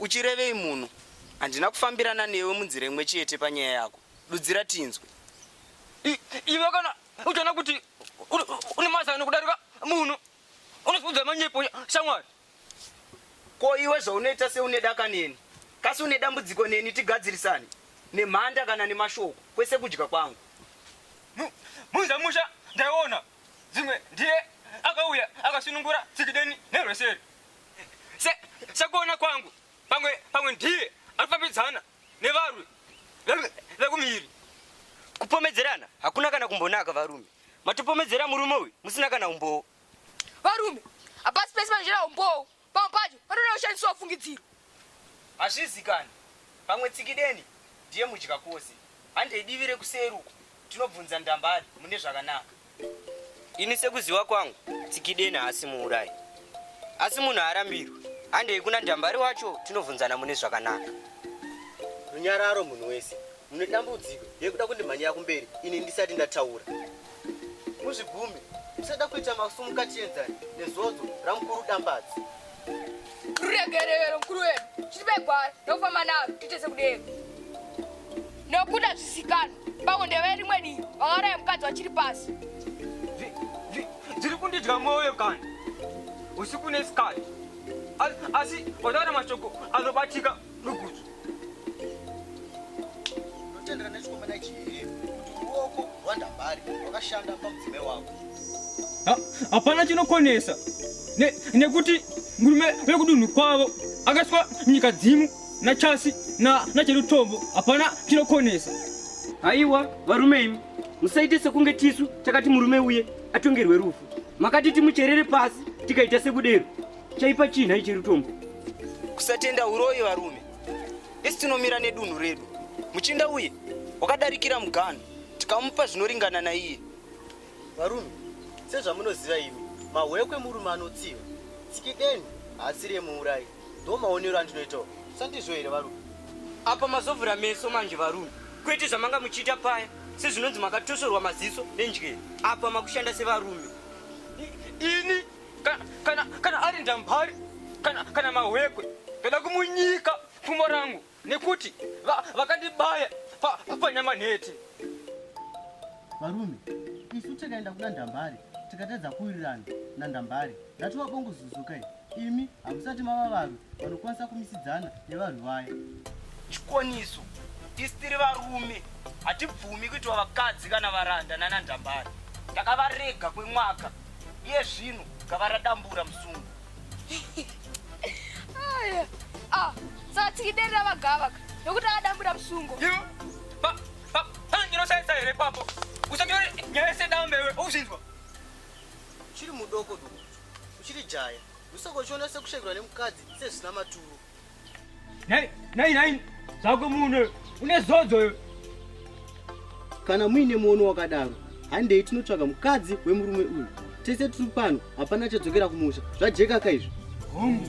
Uchirevei munhu? Handina kufambirana newe munzira imwe chete panyaya yako. Dudzira tinzwe. I- i- iwe kana uchiona kuti uri- une mazano kudarika munhu unozviudza manyepo shamwari Ko iwe zvaunoita seune daka neni? Kasi une dambudziko neni tigadzirisane? Nemhanda kana nemashoko? Kwese kudya kwangu. Mu- muza musha ndaiona dzimwe ndiye akauya akasunungura tsikideni nerweseri Se, sekuona kwangu pamwe pamwe ndiye anofambidzana nevarwi vekumiri. Kupomedzerana hakuna kana kumbonaka varume. Matopomedzera murume uyu musina kana umbowo. Varume, hapasi pese panozvira umbowo. Pamwe pacho panoda kushandiswa fungidziro. Hazvizikani. Pamwe Tsikideni ndiye mudya kwose. Handei divi rekuseri uko tinobvunza Ndambari mune zvakanaka. Ini sekuziva kwangu Tsikideni haasi muurayi. Asi munhu haarambirwi. Handei kuna Ndambari wacho tinobvunzana mune zvakanaka. Runyararo munhu wese. Mune dambudziko yekuda kundimhanyira kumberi ini ndisati ndataura. muzvigume musada kuita masumuka chienzani nezodzo ramukuru dambadzi ruregerero mukuru wedu chitipe gwara nokufamba naro tiite sekudero nokuda zvisikana pamwe ndeve rimwe divi vakaraya mukadzi vachiri pasi dziri kundidya mwoyo kani usiku nesikati asi otaura mashoko anobatika hapana chinokonesa nekuti murume vekudunhu kwavo akaiswa nyika dzimu nachasi nacherutombo hapana chinokonesa haiwa varume imi musaite sekunge tisu takati murume uye atongerwe rufu makati timucherere pasi tikaita sekudero Chaipa chii nhai Chirutombo? Kusatenda uroyi varume. Isu tinomira nedunhu redu. Muchinda uye wakadarikira mugano tikamupa zvinoringana naiye. Varume, sezvamunoziva imi, mahwekwe murume anotsiva. Tsikideni haasi remuurayi. Ndo maonero andinoitawo. Sandizvo here varume? Apa mazovhura meso manje varume. Kwete zvamanga muchiita paya sezvinonzi makatosorwa maziso nendyere. Apa makushanda sevarume. Ini kana kana kana ari ndambari kana kana mahwekwe ndoda kumunyika pfumo rangu nekuti vakandibaya va, va, panyama nhete varume isu tikaenda kuna ndambari tikatadza kuwirirana nandambari ndatova bongo zuzukai imi hamusati mava varwi vanokwanisa kumisidzana nevarwi vaya chikwaniso tisi tiri varume hatibvumi kuitwa vakadzi kana varanda nanandambari takavarega kwemwaka iye zvino gava radambura musungu ah, satikiderera vagavaka nokuti akadambura musungo ndinosaisa here papo usanyore nyaya yese dambe iwe uzvinzwa uchiri mudoko doko uchiri jaya usakochiona sekushaikirwa nemukadzi sezvisina maturo Nhai, nhai, nhai, zvako muno une zodzo yo. Kana muine muono wakadaro, handei tinotsvaga mukadzi wemurume uyu. Tese tiri pano, hapana chadzokera kumusha. Zvajeka ka izvo. Hongu.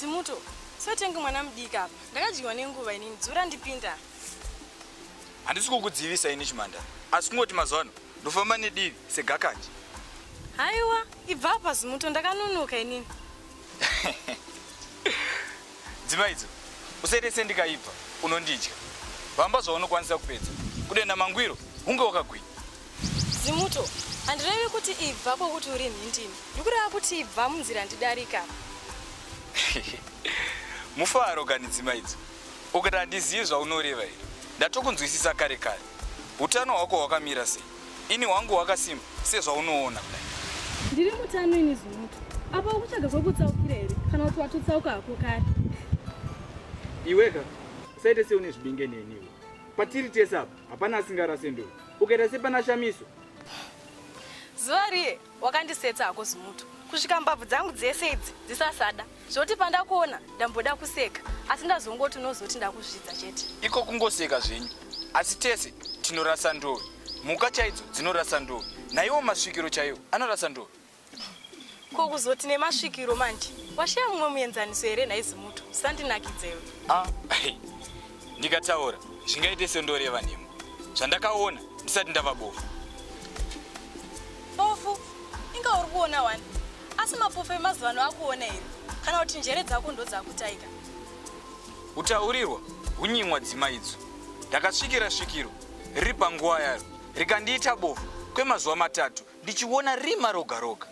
Simuto, sotengi mwana mudika apa. Ndakadyiwa nenguva inini, dzura ndipinda. Handisi kukudzivisa ini Chimanda. Asi kungoti mazuva ano ndofamba nedivi segakanje. Haiwa, ibva apa Simuto, ndakanonoka inini. Dzima idzo usaite sendikaipa unondidya. Vamba zvaunokwanisa kupedza. Kudenda mangwiro hunge wakagwinya. Zimuto, handirevi kuti ibva kwokuti uri nhindini. Ndiri kureva kuti ibva munzira ndidarika. Mufaro kani dzima idzo. Ukati handizivi zvaunoreva here? Ndatokunzwisisa kare kare. Utano hwako hwakamira sei? Ini hwangu hwakasimba sezvaunoona kudai. Ndiri mutano ini Zumutu. Apa ukutsvaga kwekutsaukira here kana kuti watotsauka hako kare? Iweka usaite seune zvibinge neniwo. Patiri tese apa hapana asingarase ndodo. Ukaita sepana Shamiso. Zuva riye Wakandisetsa hako zimuto kusvika mbabvu dzangu dzese idzi dzisasada zvoti pandakuona ndamboda kuseka asi ndazongoti unozoti ndakuzvidza chete. Iko kungoseka zvenyu asi tese tinorasa ndove. Mhuka chaidzo dzinorasa ndove. Naiwo masvikiro chaiwo anorasa ndove. Ko kuzoti nemasvikiro manje washaya mumwe muenzaniso here nhai zimuto usandinakidzewe. Ah, hey. ndikataura zvingaite sendoreva nhema zvandakaona ndisati ndava bofu bofu inga uri kuona wani asi mapofu emazuva ano akuona here kana kuti njere dzako ndodzakutaika utaurirwa hunyimwa dzima idzo ndakasvikira svikiro riri panguva yaro rikandiita bofu kwemazuva matatu Ndichiona rima roga roga.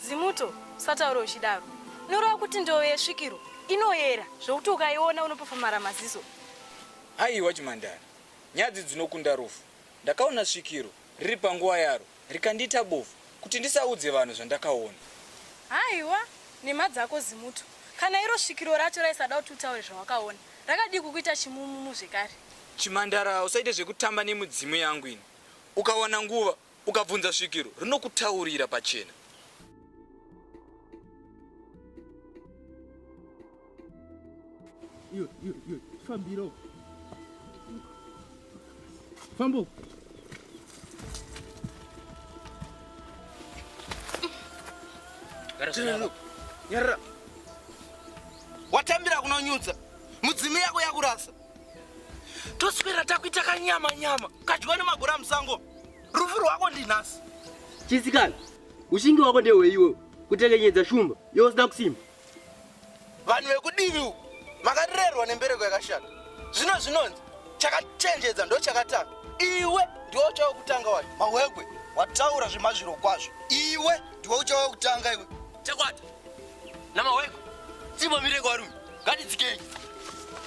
Zimuto, usataure uchidaro. Unoreva kuti ndoyo yesvikiro inoyera zvokuti ukaiona unopofomara maziso. Haiwa chimhandara, nyadzi dzinokunda rufu. Ndakaona svikiro riri panguva yaro rikandiita bofu kuti ndisaudze vanhu zvandakaona. Haiwa nhema dzako Zimuto. Kana iro svikiro racho raisada kuti utaure zvawakaona, rakadii kukuita chimumumu zvekare? Chimhandara, usaite zvekutamba nemidzimu yangu ini. Ukawana nguva, ukabvunza svikiro, rinokutaurira pachena. Iyo, iyo, iyo, fambiro. Fambo. Nyarara. Watambira kunonyudza. Mudzimu yako yakurasa. toswera takuita kanyama nyama kadyiwa nemagora musango rufu rwako ndinhasi chisikana ushingi wako ndehweiwe kutekenyedza shumba yosina kusimba vanhu vekudivi uku makarerwa nembereko yakashata zvino zvinonzi chakachenjedza ndo chakatanga iwe ndiwe uchava kutanga wacho mahwekwe wataura zvemazviro kwazvo iwe ndiwe uchava kutanga iwe chekwata Namaweko, dzimba mireko varume, ngatidzikei.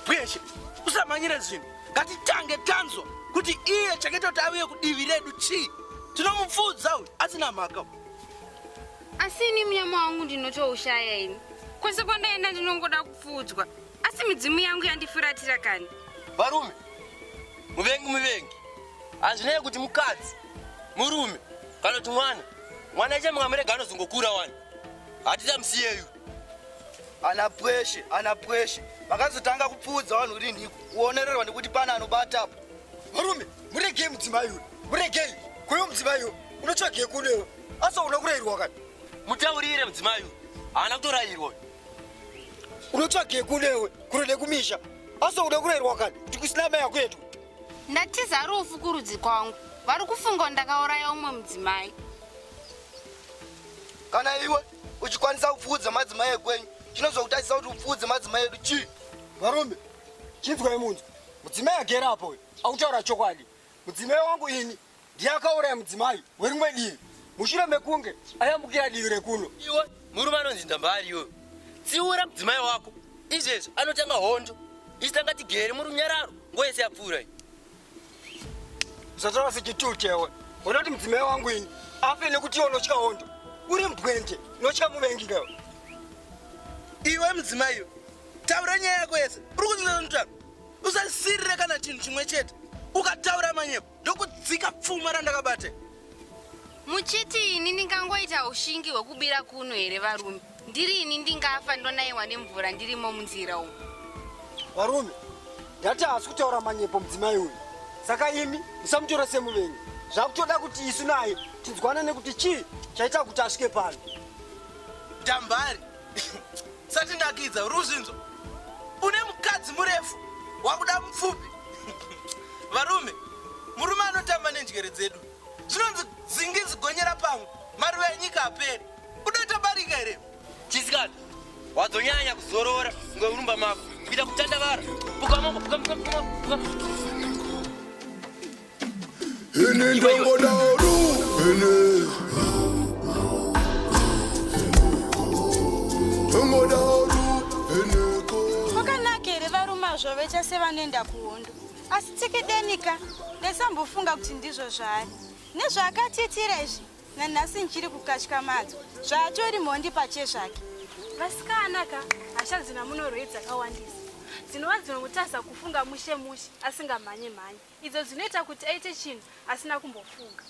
Bweshe, usamanyire zvinhu, ngatitange tanzwa kuti iye chaketa kuti aviye kudivi redu chii. Tinomupfuudza uyu asina mhaka. Asi ini munyama wangu ndinotoushaya ini. Kwese kwandaenda ndinongoda kupfuudzwa. Asi midzimu yangu yandifuratira kani. Varume, muvengi muvengi. Hazvinei kuti mukadzi, murume kana kuti mwana. Mwana chemwa murega anozongokura wani. hatitamsiyeyu ana pweshe ana pweshe vakazotanga kupfuudza vanhu rinhi kuonererwa nekuti pana anobata apo varume muregei mudzimai uyu muregei kuyo mudzimai uyu unotsvagei kunewo asi hauna kurairwa kani mutaurire mudzimai uyu haana kutorairwa unotsvagei kunewe kure nekumisha asi hauna kurairwa kani kuti kusina mai yako yedu ndatiza rufu kurudzi kwangu vari kufunga ndakauraya umwe mudzimai kana iwe uchikwanisa kupfuudza madzimai ekwenyu chinozokutadzisa kuti upfuudze madzimai edu chii varume chinzwai munzwa mudzimai agera apo uyu akutaura chokwadi mudzimai wangu ini ndiye akauraya mudzimai werimwe divi mushure mekunge ayambukira divi rekuno iwe murume anonzi ndambari iyoyo tsiura mudzimai wako izvezvi anotanga hondo isitanga tigere murunyararo ngo yese yapfuura iyi zvataura sechituu chewe unoda kuti mudzimai wangu ini afe nekuti iwe unotya hondo uri mbwende unotya muvengi newe iwe mudzimai iyo taura nyaya yako yese uri kunzinonotaura usasirire kana chinhu chimwe chete ukataura manyepo ndokudzika pfuma randakabate muchiti ini ndingangoita ushingi hwekubira kuno here varume ndiri ini ndingafa ndonaiwa nemvura ndirimo munzira umu varume ndati haasi kutaura manyepo mudzimai uyu saka imi musamutora semuvengi zvakutoda kuti isu naye tinzwanane kuti chii chaita kuti asvike pano dambari satinakidza ruzvinzo une mukadzi murefu wakuda mupfupi varume murume anotamba nenjere dzedu zvinonzi zingi zigonyera pamwe maruva enyika aperi udoita barika here chisikana wadzonyanya kuzorora ngeurumba mako kuita kutandavara pukamoko pukamoko pukamoko Ini ndongoda ru, ini. Ndongoda ru, ini ko. Kwakanaka here varume azvo vecha sevanoenda kuhondo asi tsekedenika ndaisambofunga kuti ndizvo zvaari nezvaakatiitira izvi nanhasi ndichiri kukatya madzo zvaatori mhondi pache zvake vasikana ka hasha dzina munorwei dzakawandisa dzinova dzinomutarisa kufunga mushe mushe asingamhanye mhanye idzo dzinoita kuti aite chinhu asina kumbofunga.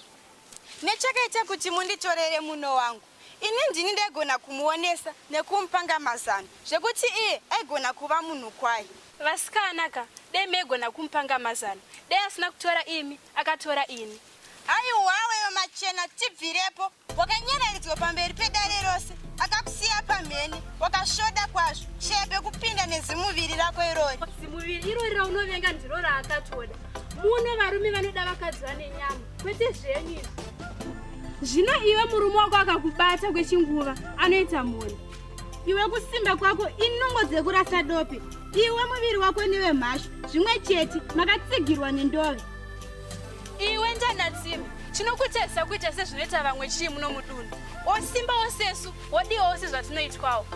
Nechakaita kuti munditorere muno wangu, ini ndini ndaigona kumuonesa nekumupanga mazano zvekuti iye aigona kuva munhu kwaye. Vasikana ka, dai maigona kumupanga mazano, dai asina kutora imi, akatora ini. Haiwawewo machena tibvirepo. wakanyararidzwa pamberi pedare rose akakusiya pamhene wakasvoda kwazvo sheya pekupinda nezimuviri rako irori zimuviri irori raunovenga ndiro raakatoda muno varume vanoda vakadzi vane nyama kwete zvenyu izvi zvino iwe murume wako akakubata kwechinguva anoita mhoni iwe kusimba kwako inungo dzekurasa dope iwe muviri wako newemhashu zvimwe chete makatsigirwa nendove Iwe ndanatsime chinokutadzisa kuita sezvinoita vamwe chii muno mudunhu osimba osesu odiwawo sezvatinoitwawo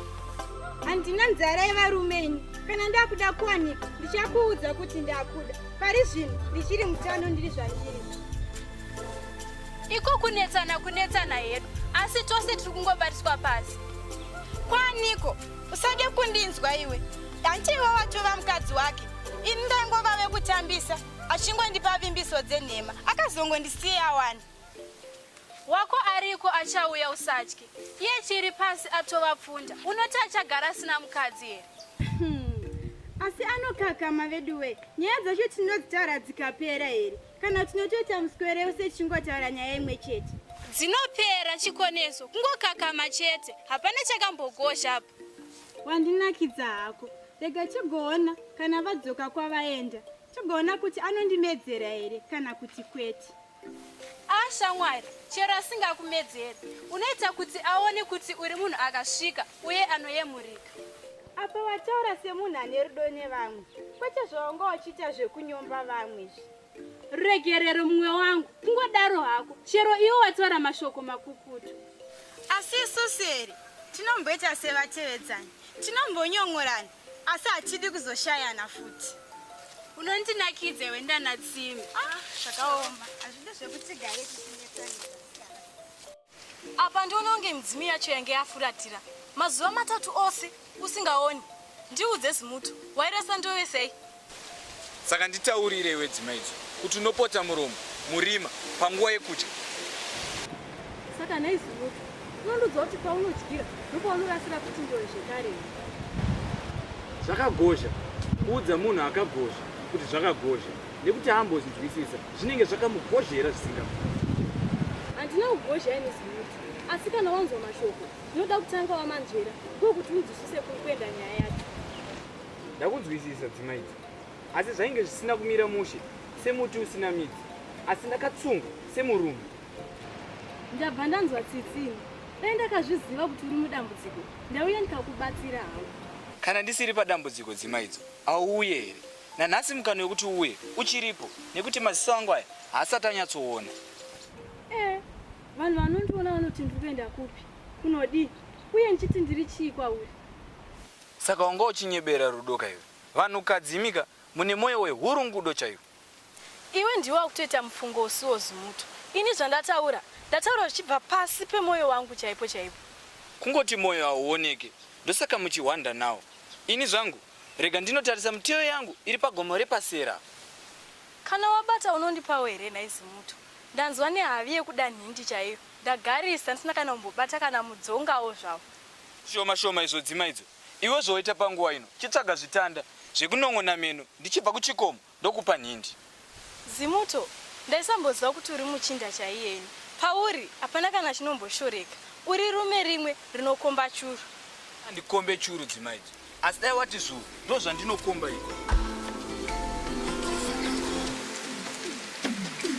handina nzara yevarume ini kana ndakuda kuwanika ndichakuudza kuti ndakuda pari zvinhu ndichiri mutano ndiri zvandiri iko kunetsana kunetsana hedu asi tose tiri kungobatiswa pasi kwaniko usade kundinzwa iwe hanti iwe watova mukadzi wake ini ndaingovave kutambisa achingondipa vimbiso dzenhema akazongondisiya wani wako ariko achauya usatye iye chiri pasi atova pfunda unoti achagara asina mukadzi here hmm. asi anokakama veduwe nyaya dzacho tinodzitaura dzikapera here kana tinotoita muswere use tichingotaura nyaya imwe chete dzinopera chikoneso kungokakama chete hapana chakambogozha apa wandinakidza hako rega tigoona kana vadzoka kwavaenda tigoona kuti anondimedzera here kana kuti kwete ah shamwari chero asingakumedzeri unoita kuti aone kuti uri munhu akasvika uye anoyemurika apa wataura semunhu ane rudo nevamwe kwete zvaunga uchiita zvekunyomba vamwe zvi Ruregerero mumwe wangu, kungodaro hako, chero iwo wataura mashoko makukutu. Asi isu seri tinomboita sevatevedzani, tinombonyon'orana asi hatidi kuzoshayana futi. Unondinakidza iwe ndana Tsimi. Ah, zvakaoma. Hazvidi zvekuti gare tichinetsana. Apa ndiono kunge midzimu yacho yange yafuratira mazuva matatu ose usingaoni. Ndiudze zimuto, wairasa ndove sei? Saka nditaurire iwe dzima idzo kuti unopota muromo murima panguva yekudya. Saka nei zimuto, unondiudza kuti paunodyira ndopaunorasira kuti ndove zvekare. Zvakagozha kuudza munhu akagozha kuti zvakagozha nekuti haambozvinzwisisa. Zvinenge zvakamugozhera zvisingamuti. Handina kugozha ini zimuti. Asi kana wanzwa mashoko, unoda kutanga wamanzvera ndokuti unzwisise kuri kuenda nyaya yacho. Ndakunzwisisa dzima idzi. Asi zvainge zvisina kumira mushe semuti usina midzi. Asi ndakatsunga semurume. Ndabva ndanzwa tsitsini. Dai ndakazviziva kuti uri mudambudziko, ndauya ndikakubatsira hangu. Kana ndisiri padambudziko dzima idzo, auye here? Nanhasi mukana wekuti uwe uchiripo nekuti maziso angu aya haasati anyatsoona. Eh, vanhu vanondiona vanoti ndiri kuenda kupi? Kunodii? Uye ndichiti ndiri chii kwauri? Saka wanga uchinyebera rudo ka iwe? Vanhukadzi imika mune moyo wehurungudo chaiwo. Iwe ndiwe wakutoita mufungo usiwo zimuto. Ini zvandataura, ndataura zvichibva pasi pemoyo wangu chaipo chaipo. Kungoti moyo hauoneke ndosaka muchihwanda nawo. Ini zvangu Rega ndinotarisa mutiyo yangu iri pagomo rePasera. Kana wabata unondipawo here nhai Zimuto? Ndanzwa nehavi yekuda nhindi chaiyo. Ndagarisa ndisina kana kumbobata kana mudzongawo zvawo. Shoma shoma izodzima idzo iwe zvawaita panguva ino chitsvaga zvitanda zvekunon'ona meno ndichibva kuchikomo Ndokupa nhindi. Zimuto, Ndaisamboziva kuti uri muchinda chaiye ini. Pauri hapana kana chinomboshoreka. Uri rume rimwe rinokomba churu. Handikombe churu dzima idzo. Asi dai wati zvuu ndozvandinokomba ini.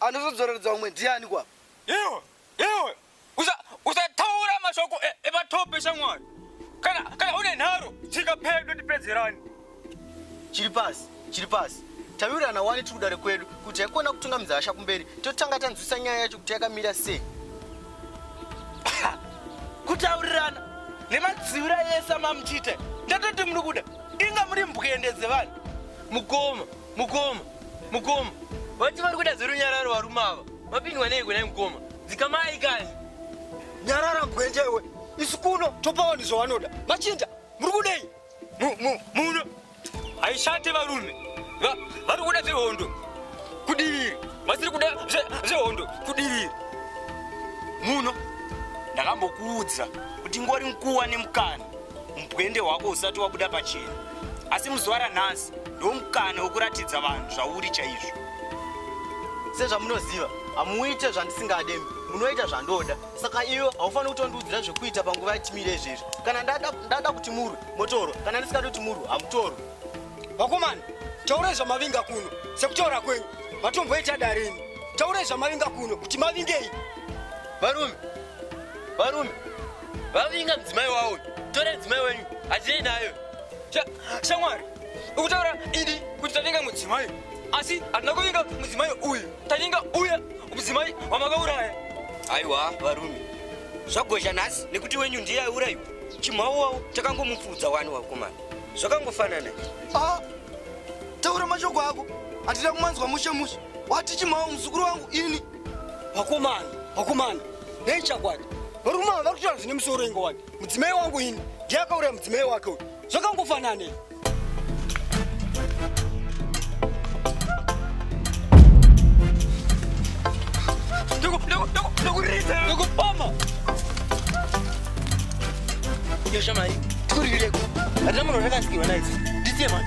Anozodzoreredza umwe ndiani kwa? Iwe, iwe, usa, usataura mashoko e- ematope shamwari. Kana, kana une nharo, dzika pedo tipedzerane. chiri pasi chiri pasi tawirirana wani tiri kudare kwedu kuti haikona kutunga muzasha kumberi totanga tanzwisa nyaya yacho kuti yakamira sei kutaurirana nemadziura ese amamutite ndatoti muri kuda inga muri mbwende dzevanhu mukoma Mukoma, mukoma, vati vari kuda zerunyararo varume ava. Vapindwa nei kunai mukoma? Dzikamai kani. Nyarara gwenje iwe. Isu kuno topa vanhu zvavanoda. Machinja, muri kudei? Mu, mu, muno. Haishate varume. Va, vari kuda zvehondo. Kudiviri. Vasiri kuda zvehondo. Zve Kudiviri. Muno. Ndakambokuudza kuti ngori mkuwa nemukana. Umbwende hwako usati wabuda pachena. Asi muzuva ranhasi ndomukana wekuratidza vanhu zvauri chaizvo. Sezvamunoziva, hamuite zvandisingade, munoita zvandoda. Saka iwe haufaniri kutondiudzira zvekuita panguva yatimire izvezvi. Kana ndada, ndada kuti murwe, motorwa. Kana ndisingadi kuti murwe, hamutorwe. Vakomana, taurai zvamavinga kuno sekutaura kwenyu matomboita darini taurai zvamavinga kuno kuti mavingei varume varume vavinga mudzimai wavo tora mudzimai wenyu hadzei nayo shamwari ukutaura idi kuti tavinga mudzimai asi hatina kuvinga mudzimai uyu tavinga uya mudzimai wamakauraya aiwa varume zvagozha nhasi nekuti wenyu ndiye aiurayiwa chimhau wavo takangomupfuudza wani wakomana zvakangofanana ah, taura mashoko ako hatida kumanzwa mushe mushe wati chimhau muzukuru wangu ini Vakomana, vakomana, nei chakwadi? Varume vari kutaura zvine musoro ingo wani. Mudzimai wangu ini ndiye akauraya mudzimai wake uyu. Zvakangofananei? ndokupama yosha mari tikurireko hatina munhu rakasikirwa naidzi ndisiye mari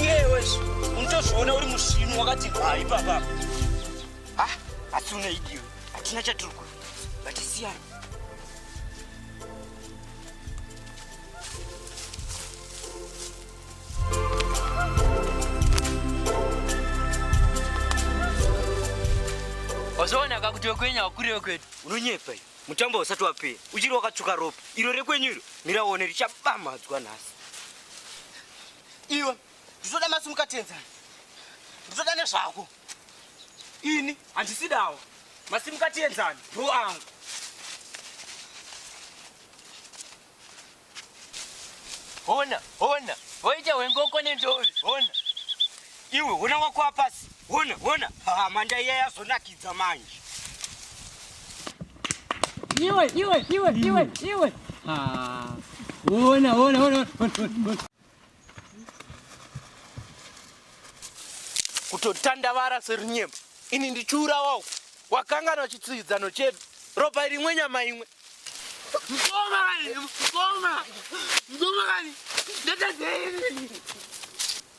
iyewe unotozviona uri musvinu wakati bhayi papa ha asi unaidiwe hatina chatiri kuita vatisiyana wazoona kakuti wekwenyu wakure wekwedu unonyepa iyo mutambo usati wapera uchiri wakatsvuka ropa iro rekwenyu iro miraone richabamhadzwa nhasi iwe ndizoda masimuka tienzani ndizoda nezvako ini handisidawo masimuka tienzani bro angu hona hona hoita hwengoko nendovi hona Iwe hona wako apasi. Hona, hona. Ha, manda iya yazonakidza manje. Iwe, iwe, iwe, iwe, iwe. Ha. Hona, hona, hona. Kutotandavara serinyemba. Ini ndichura wao. Wakangana chitsidzano chedu. Ropa rimwe nyama imwe. Mkoma kani, mkoma. Mkoma kani. Ndata zeri.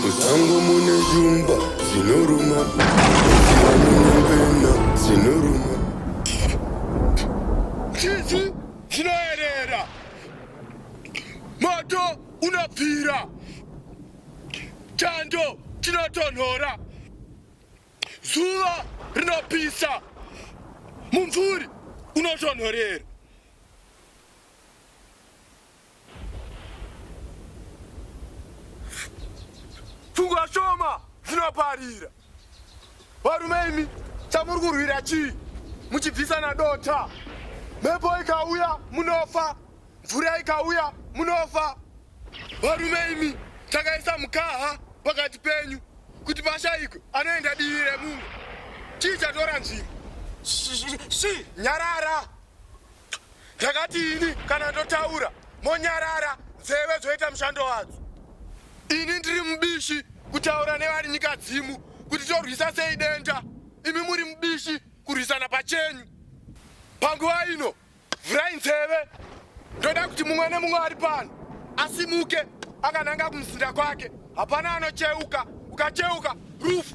Musango mune shumba dzinoruma, munyambena dzinoruma. Tsitsi dzinoerera, moto unopfira, chando chinotonhora, zuva rinopisa, mumvuri unotonhorera. Pfungwa shoma dzinoparira. Varume imi chamuri kurwira chii muchibvisana dota? Mhepo ikauya munofa, mvura ikauya munofa. Varume imi takaisa mukaha pakati penyu kuti pashaikwe anoenda divi remumwe. Chii chatora nzvimbo? Shi, nyarara! Ndakati ini kana ndotaura monyarara nzeve dzoita mushando wadzo. Ini ndiri mubishi kutaura nevari nyika dzimu kuti torwisa sei denda, imi muri mubishi kurwisana pachenyu. Panguva ino vhurai nzeve, ndoda kuti mumwe nemumwe ari pano asimuke akananga kumuzinda kwake Hapana anocheuka, ukacheuka rufu.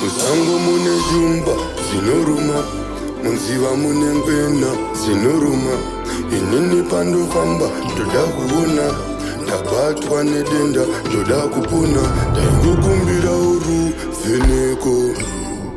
Musango mune shumba dzinoruma munziva mune ngwena dzinoruma inini pandofamba ndoda kuona ndabatwa nedenda ndoda kupona ndaingokumbira uru vheneko